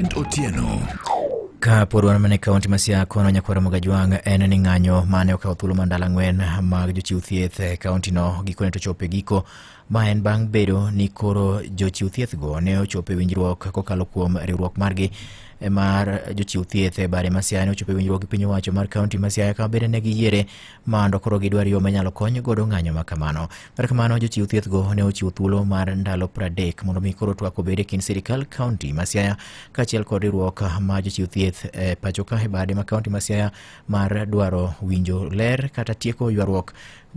Otieno. Ka pod wan mana e kaonti ma Siaya kono nyakwar Muga Jwang' en ni ng'anyo mane okawo thuolo mar ndalo ang'wen mag jochiw thieth e kaontino gikone to chopo e giko ma en bang' bedo ni koro jochiw thiethgo ne ochopo e winjruok kokalo kuom riwruok margi e mar jochiw thieth e bare ma Siaya ne ochopo e winjruok gi piny owacho mar kaonti ma Siaya kama bende ne giyiere mando koro gidwar yo manyalo kony godo ng'anyo ma kamano. Kar kamano, jochiw thiethgo ne ochiwo thuolo mar ndalo 30 mondo mi koro twak obed e kind sirikal kaunti ma Siaya kaachiel kod riwruok ma jochiw thieth e pacho ka e bade ma kaunti ma Siaya mar dwaro winjo ler kata tieko ywaruok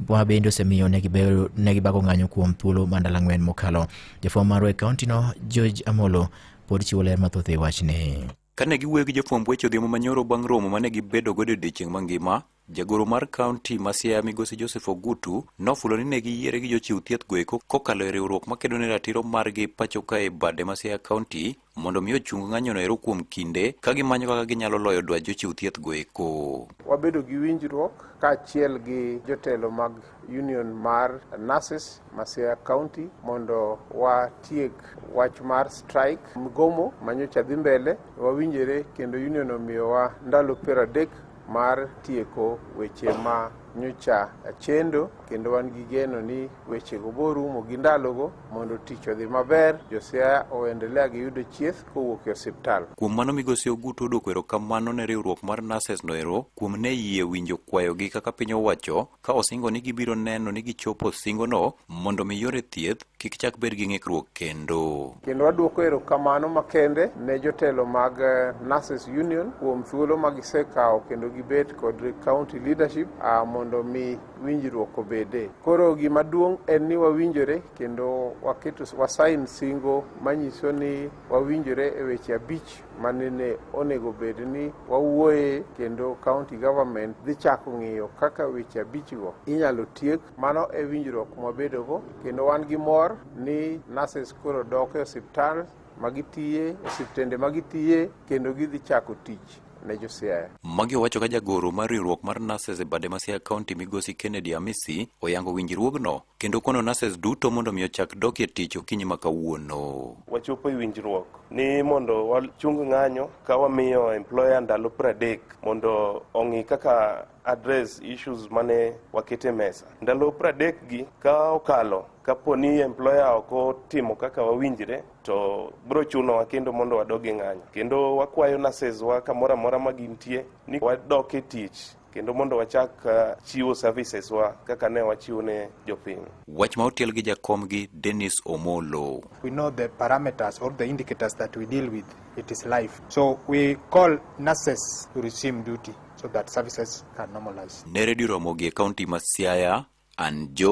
ma bende osemiyo ne gibedo- ne gibago ng'anyo kuom thuolo ma ndalo ang'wen mokalo. Jafwambo marwa e kauntino George Amolo pod chiwo ler mathoth e wachni. Kane giwuoyo gi jofwamb weche odhiambo manyoro bang' romo mane gibedo godo odiechieng' mangima, jagoro mar kaunti ma Siaya migosi Joseph Ogutu nofulo ni ne giyiere gi jochiw thieth goeko kokalo e riwruok makedo ne ratiro margi pacho ka e bade ma Siaya kaunti mondo mi ochung ng'anyono ero kuom kinde ka gimanyo kaka ginyalo loyo dwach jochiw thieth goeko. Wabedo gi winjruok kaachiel gi jotelo mag Union mar Nurses Masia County mondo watiek wach mar strike mgomo manyocha dhi mbele wawinjore kendo union omiyowa ndalo piero adek mar tieko weche ma nyocha chendo kendo wan gi geno ni wechego borumo gi ndalogo mondo tich odhi maber josiaya oendelea gi yudo chieth kowuok e osiptal kuom mano migosi ogutu odwoko erokamano ne riwruok mar nurses noero kuom ne yie winjo kwayogi kaka piny owacho ka osingo ni gibiro neno ni gichopo singono mondo mi yore thieth kik chak bed gi ng'ikruok kendo. Kendo waduoko erokamano makende ne jotelo mag eh, Nurses Union kuom thuolo ma gisekawo kendo gibet kod county leadership ah, mondo mi winjruok obede. Koro gima duong' en ni wawinjore kendo waketo wasain singo manyiso ni wawinjore e weche abich manene onego bed ni wawuoye kendo county government dhi chako ng'iyo kaka weche abichgo inyalo tiek. Mano e winjruok mwabedogo kendo wan gi mor ni nurses koro dok e osiptal magitiye, osiptende magitiye kendo gidhi chako tich ne Josiaya. Magi owacho ka jagoro mar riwruok mar nurses e bade ma Siaya County migosi Kennedy Amisi oyango winjruogno kendo kono nases duto mondo mi ochak dok e tich okinyi ma kawuono. Wachopo e winjruok ni mondo wachung ng'anyo ka wamiyo employer ndalo pradek mondo ong'i kaka address issues mane wakete mesa. Ndalo pradek gi ka okalo kapo ni employer ok otimo kaka wawinjre to biro chunowa kendo mondo wadog e ng'anyo kendo wakwayo nurses wa kamoro amora ma gintie ni wadok e tich kendo mondo wachak uh, chiwo services wa kaka ne wachiwo ne jopiny. Wach ma otiel gi jakom gi Dennis Omolo. We know the parameters or the indicators that we deal with. It is life. So we call nurses to resume duty so that services can normalize. Ne redio Ramogi e kaunti ma Siaya, an Joy